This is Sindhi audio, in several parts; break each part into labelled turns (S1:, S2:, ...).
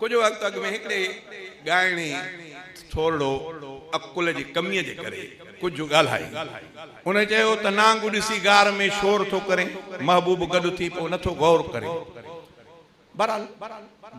S1: ڪجهه وقت اڳ ۾ هڪڙي ڳائڻي ٿورڙو عقل جي ڪميء جي ڪري ڪجهه ڳالهائي. ان چيو ته نانگ ڏسي غار ۾ شور ٿو ڪرين، محبوب گڏ ٿي پوء نٿو غور ڪرين. بهرحال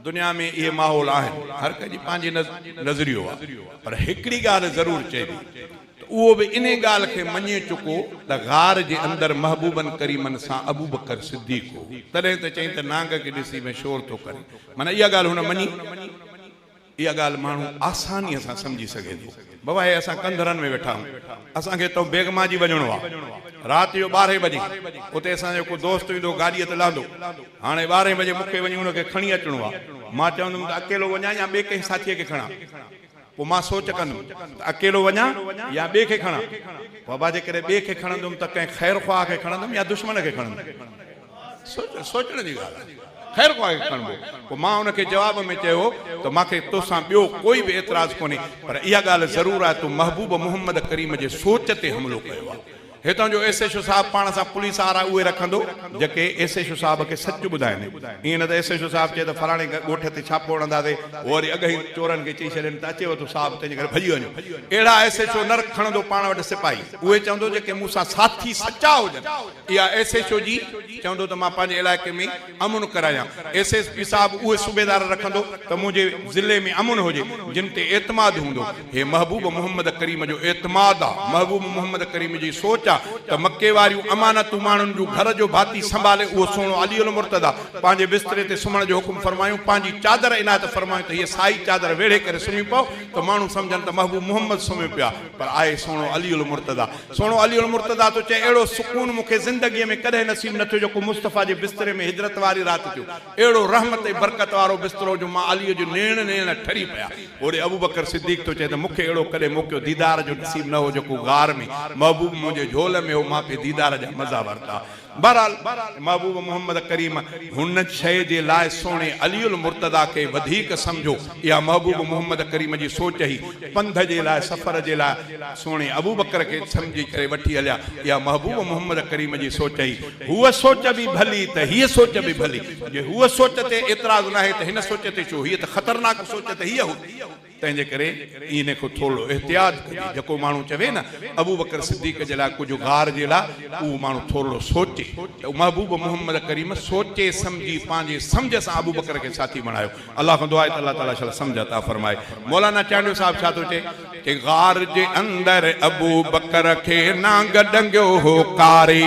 S1: دنيا ۾ اهي ماحول آهن، هر ڪنهن جي پنهنجي نظريو آهي، پر هڪڙي ڳالهه ضرور چئبي ته اهو به انهي ڳالهه کي مڃي چڪو ته غار جي اندر محبوبن ڪريمن سان ابوبڪر صديق هو، تڏهن ته چئين ته نانگ کي ڏسي ۾ شور ٿو ڪرين، معنيٰ اها ڳالهه هن مڃي. اها ڳالهه ماڻهو آسانيء سان سمجهي سگهي ٿو. بابا هي اسان ڪنڌرن ۾ ويٺا آهيون. اسان کي اتان بيگماجي وڃڻو آهي. رات جو ٻارهين بجي اتي اسان جو ڪو دوست ايندو گاڏيء تي لهندو. هاڻي ٻارهين بجي مون کي وڃي ان کي کڻي اچڻو آهي. مان چوندم ته اڪيلو وڃان يا ٻئي ڪنهن ساٿيء کي کڻان. پوء مان سوچ ڪندم ته اڪيلو وڃان يا ٻئي کي کڻان. پوء ابا جيڪڏهن ٻئي کي کڻندم ته ڪنهن خير خواهه کي کڻندم يا دشمن کي کڻندم. سوچ سوچڻ جي ڳالهه آهي. خير خواه کي کڻبو. پوء مان ان کي جواب ۾ چيو ته مان کي تو سان ٻيو ڪوئي به اعتراض ڪونهي پر اها ڳالهه ضرور آهي تو محبوب محمد ڪريم جي سوچ تي حملو ڪيو آهي. هتان جو ايس ايڇ او صاحب پاڻ سان پوليس آر آء اهي رکندو جيڪي ايس ايڇ او صاحب کي سچ ٻڌائين. ائين نه ته ايس ايڇ او صاحب چئي ته فلاڻي ڳوٺ تي ڇاپو هڻنداسي هو وري اڳهين چورن کي چئي ڇڏين ته اچيو تو صاحب تنهنجي ڪري ڀڄي وڃون. اهڙا ايس ايڇ او نه کڻندو پاڻ وٽ سپاهي اهي چوندو جيڪي مون سان ساٿي سچا هجن. اها ايس ايڇ او جي چوندو ته مان پنهنجي علائقي ۾ امن ڪرايان، ايس ايس پي صاحب اهي صوبيدار رکندو ته منهنجي ضلعي ۾ امن هجي، جن تي اعتماد هوندو، هي محبوب محمد ڪريم جو اعتماد آ، محبوب محمد ڪريم جي سوچ آ ته مڪي واريون امانتون ماڻهن جون گهر جو ڀاتي سنڀالي اهو سهڻو علي المرتضيٰ پنهنجي بستري تي سمهڻ جو حڪم فرمايون پنهنجي چادر عنايت فرمايون ته هيء سائي چادر ويڙهي ڪري سمهي پئو ته ماڻهو سمجهن ته محبوب محمد سمهيو پيو آ. پر آء سهڻو علي المرتضيٰ، سهڻو علي المرتضيٰ ٿو چئي، اهڙو سڪون مون کي زندگيء ۾ ڪڏهن نصيب نه ٿيو جيڪو مصطفيٰ جي بستري ۾ هجرت واري رات ٿيو. اهڙو رحمت ۽ برڪت وارو بسترو جو مان عليء جون نيڻ نيڻ ٺري پيا. هوڏي ابوبڪر صديق ٿو چئي ته مون کي اهڙو ڪڏهن موقعو ديدار جو نصيب نه هو جيڪو غار ۾، محبوب منهنجي جهول ۾ هو، مان پي ديدار جا مزا ورتا. بهرحال محبوب محمد ڪريم هن شيء جي لاء سهڻي علي المرتضيٰ کي وڌيڪ سمجهو، اها محبوب محمد ڪريم جي سوچ هئي، پنڌ جي لاء سفر جي لاء سهڻي ابوبڪر کي سمجهي ڪري وٺي هليا، اها محبوب محمد ڪريم جي سوچ هئي، هوء سوچ به ڀلي ته هيء سوچ به ڀلي، جي هوء سوچ تي اعتراض ناهي ته هن سوچ تي ڇو، هيء ته خطرناڪ سوچ ته هيء هئي. تنهن جي ڪري ان کان ٿورڙو احتياط ڪجي. جيڪو ماڻهو چوي نه ابوبڪر صديق جي لاء ڪجهه غار جي لاء اهو ماڻهو ٿورڙو سوچي ته محبوب محمد ڪريم سوچي سمجهي پنهنجي سمجهه سان ابوبڪر کي ساٿي بڻايو. الله کان دعا آهي ته الله تعاليٰ شل سمجهه عطا فرمائي. مولانا چانڊيو صاحب ڇا ٿو چئي ته غار جي اندر ابوبڪر کي نانگ ڏنگيو هو قاري.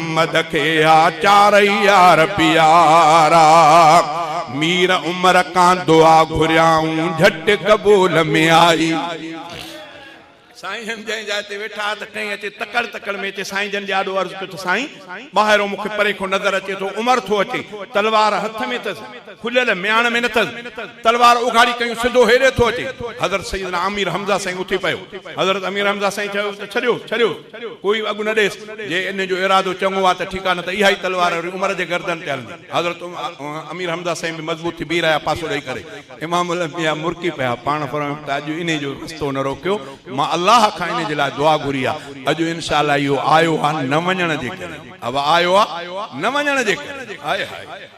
S1: محمد کي آ چارئي يار پيارا. مير عمر کان دعا گهريائون جهٽ قبول ۾ آئي. سائين جن جنهن جاء تي ويٺا ها ته ٽئين اچي تڪڙ تڪڙ ۾ اچي سائين جن جي آڏو عرض ڪيو ته سائين ٻاهرئون مون کي پري کان نظر اچي ٿو عمر ٿو اچي تلوار هٿ ۾ اٿس. کليل مياڻ ۾ نٿس، تلوار اگهاڙي ڪيون سڌو هيڏي ٿو اچي، حضرت سيدنا امير حمزه سائين اٿي پيو، حضرت امير حمزه سائين چيو ته ڇڏيو، ڇڏيو، ڪوئي به اڳ نه ڏيس، جي انهن جو ارادو چڱو آ ته ٺيڪ آ نه ته اهائي تلوار وري عمر جي گردن تي هلندي، حضرت امير حمزه سائين به مضبوط ٿي بيهي رهيا پاسو ڏئي ڪري، امام الانبياء مرڪي پيا، پاڻ فرمايو ته اڄ انهي جو رستو نه روڪيو، مان الله کان انهي جي لاء دعا گهري آ، اڄ انشاء الله اهو آيو آ نه وڃڻ جي ڪري، اهو آيو آ نه وڃڻ جي ڪري، هائي هائي.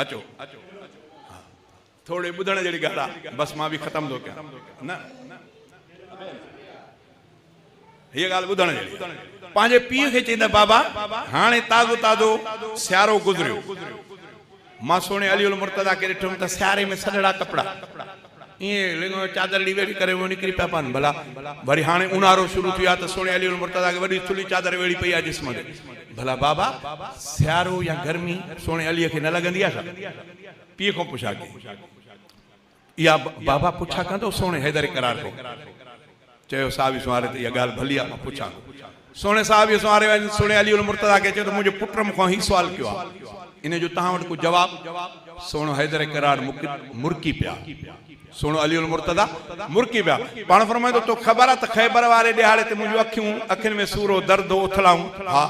S1: اچو ٿورڙي ٻڌڻ جهڙي ڳالهه آهي بس مان به ختم ٿو ڪيان نه هيء ڳالهه ٻڌڻ جهڙي پنهنجي پيء کي چيائين ته بابا هاڻي تازو تازو سيارو گذريو مان سهڻي علي المرتضيٰ کي ڏٺم ته سياري ۾ سنهڙا ڪپڙا ائين لڱ ۾ چادر اڙي ويڙهي ڪري اهي نڪري پيا پون. ڀلا وري هاڻي اونهارو شروع ٿيو آهي ته سهڻي علي المرتضيٰ کي وڏي ٿلهي چادر ويڙهي پئي آهي جسم تي. ڀلا بابا سيارو يا گرمي سهڻي عليء کي نه لڳندي آهي ڇا؟ پيء کان پڇا ڪئي. اها بابا پڇا ڪندو سهڻي حيدر اقرار ڪئي. چيو صاحب يوسف واري تي اها ڳالهه ڀلي آهي، مان پڇان ٿو. سهڻي صاحب يوسف واري وڃي سهڻي علي المرتضيٰ کي چيو ته منهنجي پٽ مون کان هي سوال ڪيو آهي، انهيء جو توهان وٽ ڪو جواب؟ سهڻو حيدر ڪراڙ مرڪي پيا. سهڻو علي المرتضيٰ مرڪي پيا. پاڻ فرمائين ٿو، توکي خبر آهي ته خيبر واري ڏهاڙي تي منهنجون اکيون، اکين ۾ سور هو، درد هو، اٿلائون؟ ها.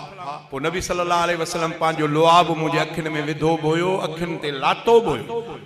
S1: پوء نبي صلي الله عليه وسلم پنهنجو لعاب منهنجي اکين ۾ وڌو به هيو، اکين تي لاتو به هيو.